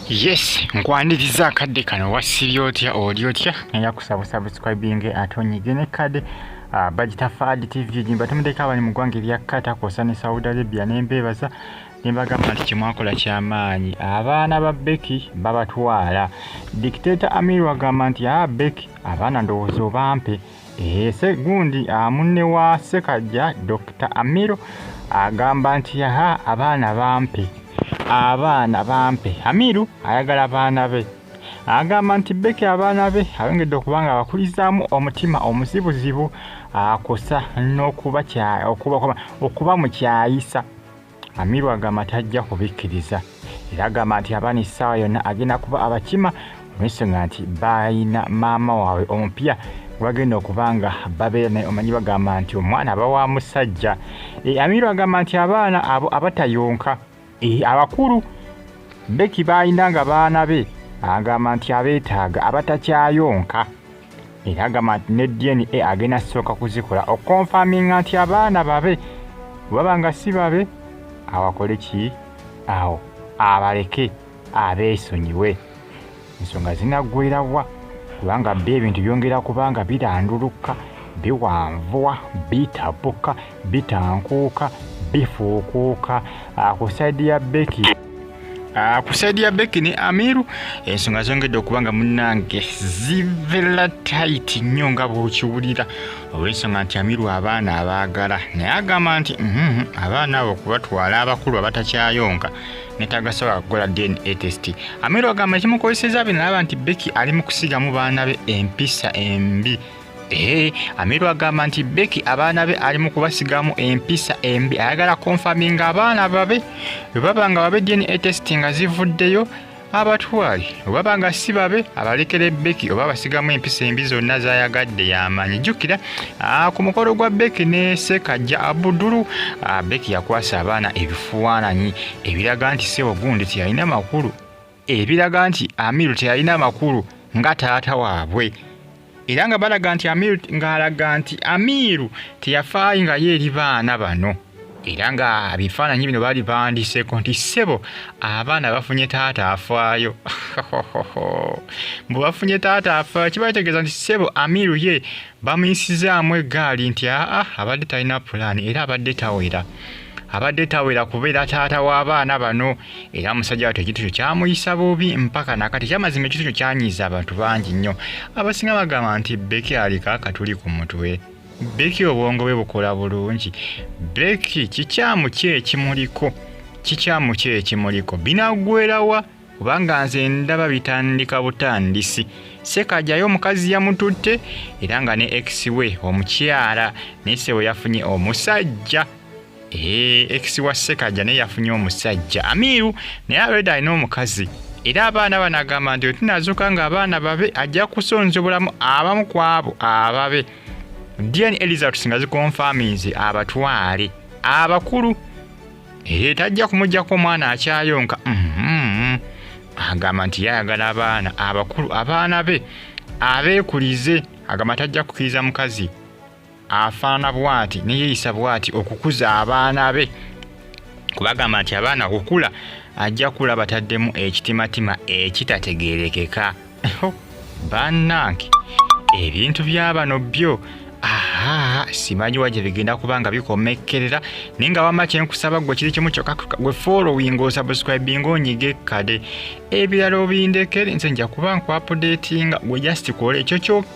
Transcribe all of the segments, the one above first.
yes nkwaniriza akadde kano wasibye otya oli otya naye akusaba subscribinge ate onyige ne kade ah, bagita fad tv jimba tumudeko abali mu ggwanga erya kata kwosa ne saudi arabia nembeebaza nembagamba nti kyemwakola kyamaanyi abaana ba beki babatwala dictator amir wagamba nti a ah, beki abaana ndowooza obampe Ese gundi ah, munne wa Ssekajja Dokita Amiro agamba nti yaha abaana bampe abaana bampe. Amiru ayagala baana be agamba nti Becky abaana be ayongedde okuba nga abakulizaamu omutima omuzibuzibu akosa n'okuba okuba mu kyayisa. Amiru agamba tajja kubikkiriza era agamba nti abaana essaawa yonna agenda kuba abakima olw'ensonga nti balina maama waabwe omupya bagenda okuba nga babeera naye omanyi bagamba nti omwana aba wa musajja e, amiru agamba nti abaana abo abatayonka e, abakulu beki baalina nga baana be agamba nti abeetaaga abatakyayonka era agamba nti ne dna agenda sooka kuzikola okonfaminga nti abaana babe webaba nga si babe awakole ki awo abaleke abeesonyiwe ensonga zinaggwerawa kubanga byo ebintu byongera kubanga birandulukka biwanvuwa bitabuka bitankuuka bifuukuuka ah, ku saidi ya beki ah, ku saidi ya beki ne amiru ensonga zongedde okuba nga munange zivela tit nnyo nga bwokiwulira olwensonga nti amiru abaana abaagala naye agamba nti mhm, abaana abo okubatwala abakulu abatakyayonka netagasobola kukola dna test amiru agamba ekimukozeseza binalaba nti beki ali mu kusigamu baana be empisa embi Ehe, Amiru agamba nti Becky abaana be ali mu kubasigamu empisa embi ayagala konfaminga abaana babe bwe baba nga babe DNA test nga zivuddeyo abatwale obaba nga si babe abalekera ebbeki oba abasigamu empisa embi zonna zayagadde yamanyi jjukira ah, ku mukolo gwa beki ne sekajja abudulu ah, beki yakwasa abaana ebifuananyi ebiraga nti sebo gundi teyalina makulu ebiraga nti amiru teyalina amakulu nga taata waabwe era nga balaga nti amiru ng'alaga nti amiru teyafaayi nga ye eri baana bano era nga bifaananyi bino baali bawandiseeko nti ssebo abaana bafunye taata afaayo mbu bafunye taata afaayo kiba kitegeeza nti ssebo amiru ye bamuyisizaamu eggaali nti aa abadde talina pulaani era abadde tawera abadde tawera kubeera taata w'abaana bano era omusajja wattu ekintu kyo kyamuyisa bubi mpaka nakati kyamazima ekintu kyo kyanyiiza abantu bangi nnyo abasinga bagamba nti beki aliko akatuli ku mutwe beki obwongo bwe bukola bulungi beki kikyamu ki ekimuliko kikyamu ki ekimuliko binaggwerawa kubanga nze ndaba bitandika butandisi sekajayo omukazi yamututte era nga ne ex we omukyala naye sebo yafunye omusajja Eh, ex wa Sekaja naye yafunye omusajja Amiru naye already alina omukazi era abaana bano agamba nti wetunazuuka nga abaana babe ajja kusonza obulamu abamu ku abo ababe dn elizabeth nga zikonfaminze abatwale abakulu ee tajja kumugjako omwana akyayonka mm-hmm. agamba nti yayagala abaana abakulu abaana be abeekulize agamba tajja kukiriza mukazi afaana bwati neyeyisa bwati okukuza abaana be kubagamba nti abaana okukula ajja kula bataddemu ekitimatima ekitategerekeka banange ebintu byabano byo aha simanyi wa gye bigenda kuba nga bikomekkerera naye nga wamma kyenkusaba gwe kiri kimu kyokka gwe following osubscribing onyige kade ebirala obindekere nze nja kuba nkwapudetinga gwe just kola ekyo kyokka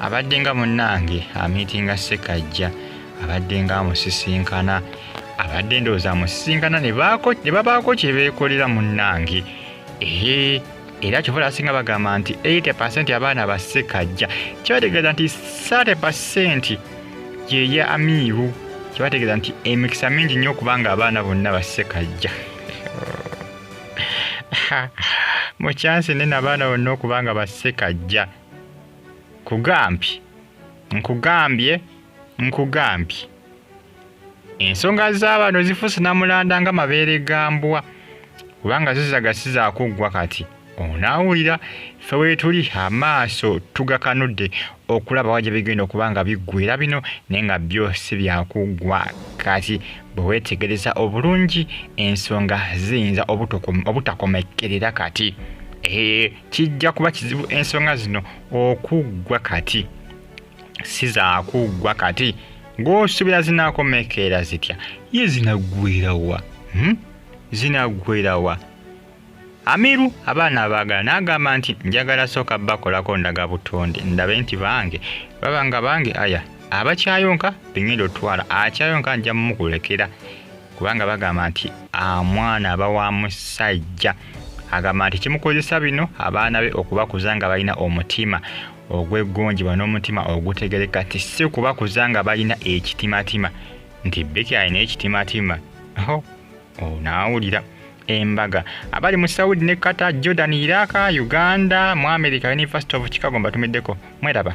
abadde nga munnange amiitinga ssekajja abadde nga amusisinkana abadde endowooza amusisinkana ne babaako kye beekolera munnange ee era kyovola asinga bagamba nti 80 pasenti abaana ba ssekajja kibategeeza nti 30 pasenti yeye amiibu kibategeeza nti emikisa mingi nnyo okubanga abaana bonna ba ssekajja mukyansi nene abaana bonna okubanga ba ssekajja Kugambye, nkugambye, nkugambye. Ensonga za bano zifuuse namulanda nga mabeere ga mbwa kubanga zo zagasiza kuggwa kati onaawulira ffe weetuli amaaso tugakanudde okulaba wa gye bigenda okuba nga biggwera bino naye nga byo si byakuggwa kati bwe weetegereza obulungi ensonga ziyinza obutakomekkerera kati ee kijja kuba kizibu ensonga zino okuggwa kati si zakuggwa kati ng'osuubira zinaakomekeera zitya ye zinaggwerawa hmm? zinaggwerawa amiru abaana abaagala n'agamba nti njagala sooka bakolako ndaga butonde ndabe nti bange baba nga bange aya abakyayonka bengenda otwala akyayonka nja mumukulekera kubanga bagamba nti amwana aba wa musajja agamba nti kimukozesa bino abaana be okubakuza nga balina omutima ogweggonjebwa n'omutima ogutegereka ti si kubakuza nga balina ekitimatima nti beki alina ekitimatima onaawulira embaga abali mu saudi ne qatar jordan iraq uganda mu america university of chicago mbatumiddeko mweraba